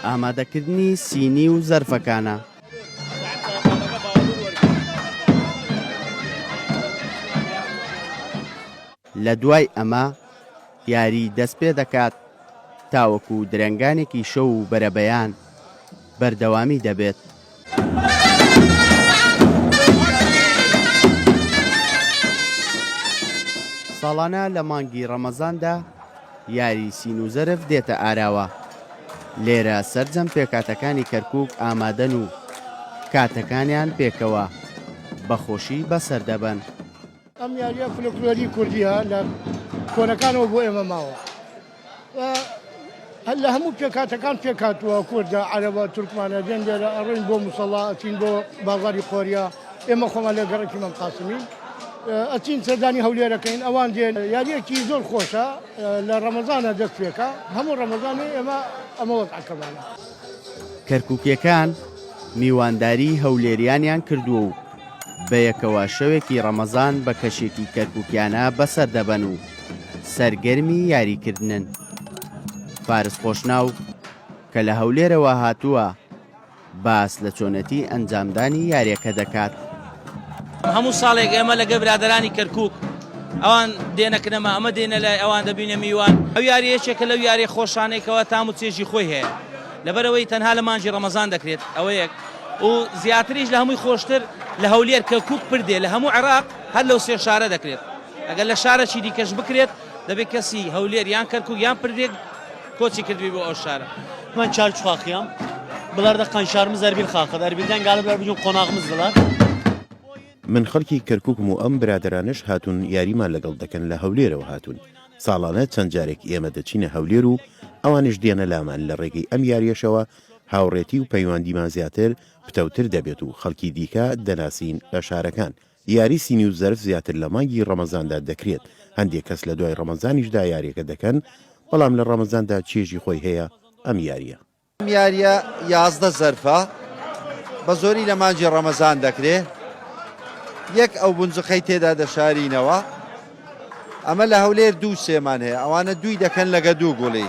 ئامادەکردنی سینی و زەرفەکانە. لە دوای ئەمە یاری دەست پێ دەکات تاوەکو درەنگانێکی شەو و بەرەبەیان بەردەوامی دەبێت. ساڵانە لە مانگی ڕەمەزاندا یاری سین و زەرف دێتە ئاراوە لێرە سرجەم پێکاتەکانی کەرکک ئامادەن و کاتەکانیان پێکەوە بەخۆشی بەسەردەبەن. ئەم یاریە فلکلۆری کوردیە لە کۆنەکانەوە بۆ ئێمە ماوە هەر لە هەموو پێکاتەکان پێکاتوە کوردە عەرەبە تورکمانە دێن لێرە ئەڕۆین بۆ مسەڵا ئەچین بۆ بازاری خۆریا ئێمە خۆمان لە گەڕکی مەم قاسمین ئەچین سەردانی هەولێرەکەین ئەوان دێن یاریەکی زۆر خۆشە لە ڕەمەزانە دەست پێکە هەموو ڕەمەزانێ ئێمە ئەمە وەزعەکەمانە کەرکوکیەکان میوانداری هەولێریانیان کردووە و بەیەکەوە شەوێکی ڕەمەزان بە کەشێکی کەرکوکیانە بەسەر دەبەن و سەرگەرمی یاریکردنن فارس خۆشناو کە لە هەولێرەوە هاتووە باس لە چۆنەتی ئەنجامدانی یاریەکە دەکات هەموو ساڵێک ئێمە لەگە برادرانی کەرکک ئەوان دێنەکرەمە ئەمە دێنە لای ئەوان دەبینە میوان ئەو یاریەکێکە لەو یاری خۆشانێکەوە تام و چێژی خۆی هەیە لەبەرئەوەی تەنها لە مانگی ڕەمەزان دەکرێت ئەوەیەک و زیاتریش لە هەمووی خۆشتر لە هەولێر، کەرکوک، پردێ لە هەموو عێراق هەر لەو سێ شارە دەکرێت ئەگەر لە شارەکی دیکەش بکرێت دەبێت کەسی هەولێر یان کەرکوک یان پردێ کۆچی کردبی بۆ ئەو شارە. من چارچ خاخیام بلاردا قنشارمز ئەربیل خاخد ئەربیلدان گالە بلار بجون قۆناغمز بلار. من خەڵکی کەرکوکم و ئەم برادەرانەش هاتوون یاریمان لەگەڵ دەکەن لە هەولێرەوە هاتوون. ساڵانە چەند جارێک ئێمە دەچینە هەولێر و ئەوانیش دێنە لامان، لە رێگەی ئەم یارییەشەوە هاوڕێتی و پەیواندیمان زیاتر پتەوتر دەبێت و خەڵکی دیکە دەناسین لە شارەکان. یاری سینی و زەرف زیاتر لە مانگی رەمەزاندا دەکرێت، هەندێک کەس لە دوای رەمەزانیشدا یارییەکە دەکەن، بەڵام لە رەمەزاندا چێژی خۆی هەیە ئەم یارییە. ئەم یاریە یازدە زەرفە بە زۆری لە مانجی ڕەمەزان دەکرێ یەک ئەو بنجقەی تێدا دەشارینەوە ئەمە لە هەولێر دوو سێمان هەیە ئەوانە دووی دەکەن لەگە دوو گوڵی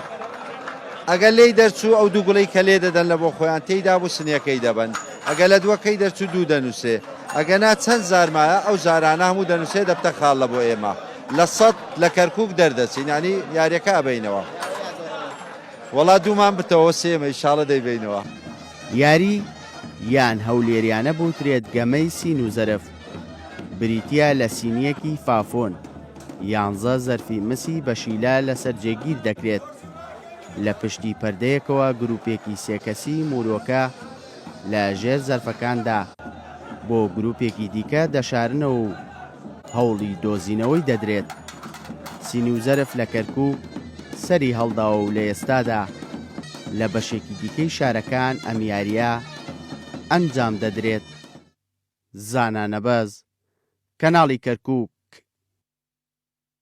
ئەگەر لێی دەرچوو ئەو دوو گوڵی کە لێ دەدەن لە بۆ خۆیان تێیدا بوو سنیەکەی دەبن ئەگە لە دووەکەی دەرچوو دوو دەنووسێ ئەگەنا چەند زارمایە ئەو زارانە هەموو دەنووسێ دەبتە خاڵ لە بۆ ئێمە لە سەد لە کەرکک دەردەچینانی یاریەکە ئەبینەوە. وەڵا دوومان بتەوە سێمە ئیشاڵە دەیبەینەوە. یاری یان هەولێریانە بوترێت گەمەی سین و زەرف بریتیە لە سینیەکی فافۆن یانزە زەرفی مسی بەشیلە لەسەر جێگیر دەکرێت لە پشتی پەردەیەکەوە گروپێکی سێ کەسی مورۆکە لە ژێر زەرفەکاندا بۆ گروپێکی دیکە دەشارنەوە و هەوڵی دۆزینەوەی دەدرێت. سینی و زەرف لە کەرکووک سەری هەڵداوە و لە ئێستادا لە بەشێکی دیکەی شارەکان ئەم یارییە ئەنجام دەدرێت. زانا نەبەز، کەناڵی کەرکووک.